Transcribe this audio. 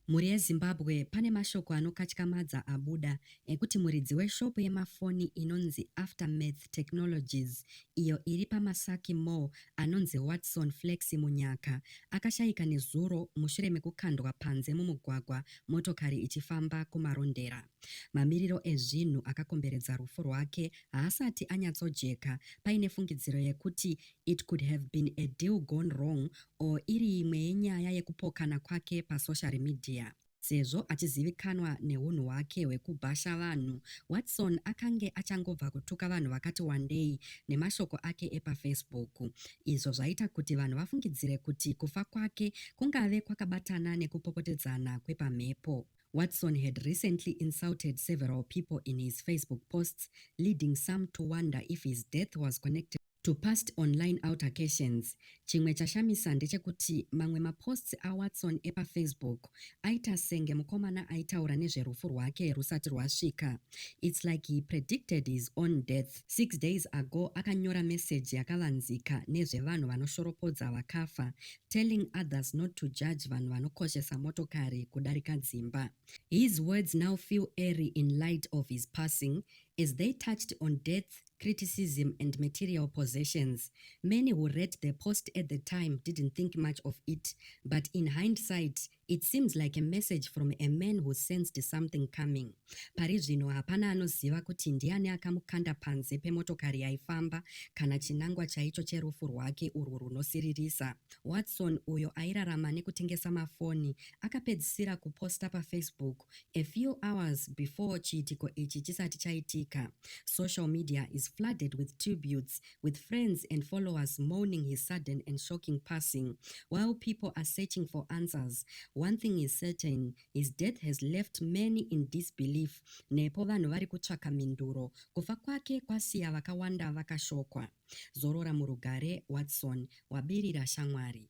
Mhuri yeZimbabwe pane mashoko anokatyamadza abuda ekuti muridzi weshopu yemafoni inonzi Aftermath Technologies iyo iri paMasaki Mall anonzi Watson Flexy Munyaka akashaika nezuro mushure mekukandwa panze mumugwagwa motokari ichifamba kuMarondera. Mamiriro ezvinhu akakomberedza rufu rwake haasati anyatsojeka paine fungidziro yekuti It could have been a deal gone wrong or iri imwe yenyaya yekupokana kwake pasocial media. Sezvo achizivikanwa nehunhu hwake hwekubhasha vanhu, Watson akange achangobva kutuka vanhu vakati wandei nemashoko ake epaFacebook, izvo zvaita kuti vanhu vafungidzire kuti kufa kwake kungave kwakabatana nekupopotedzana kwepamhepo. Watson had recently insulted several people in his Facebook posts, leading some to wonder if his death was connected to past online altercations. Chimwe chashamisa ndechekuti mamwe maposts aWatson epaFacebook aita senge mukomana aitaura nezverufu rwake rwusati rwasvika. Its like he predicted his own death. Six days ago akanyora message yakavanzika nezvevanhu vanoshoropodza vakafa, telling others not to judge vanhu vanokoshesa motokari kudarika dzimba. His words now feel airy in light of his passing as they touched on death criticism and material possessions. Many who read the post at the time didn't think much of it, but in hindsight, it seems like a message from a man who sensed something coming. Pari zvino hapana anoziva kuti ndiani akamukanda panze pemotokari yaifamba kana chinangwa chaicho cherufu rwake urwu runosiririsa. Watson, uyo airarama nekutengesa mafoni, akapedzisira kuposta pafacebook A few hours before chiitiko ichi chisati chaitika, social media is flooded with tributes with friends and followers mourning his sudden and shocking passing. While people are searching for answers, one thing is certain, his death has left many in disbelief nepo vanhu vari kutsvaka mhinduro. Kufa kwake kwasiya vakawanda vakashokwa. Zorora murugare, Watson, wabirira shamwari.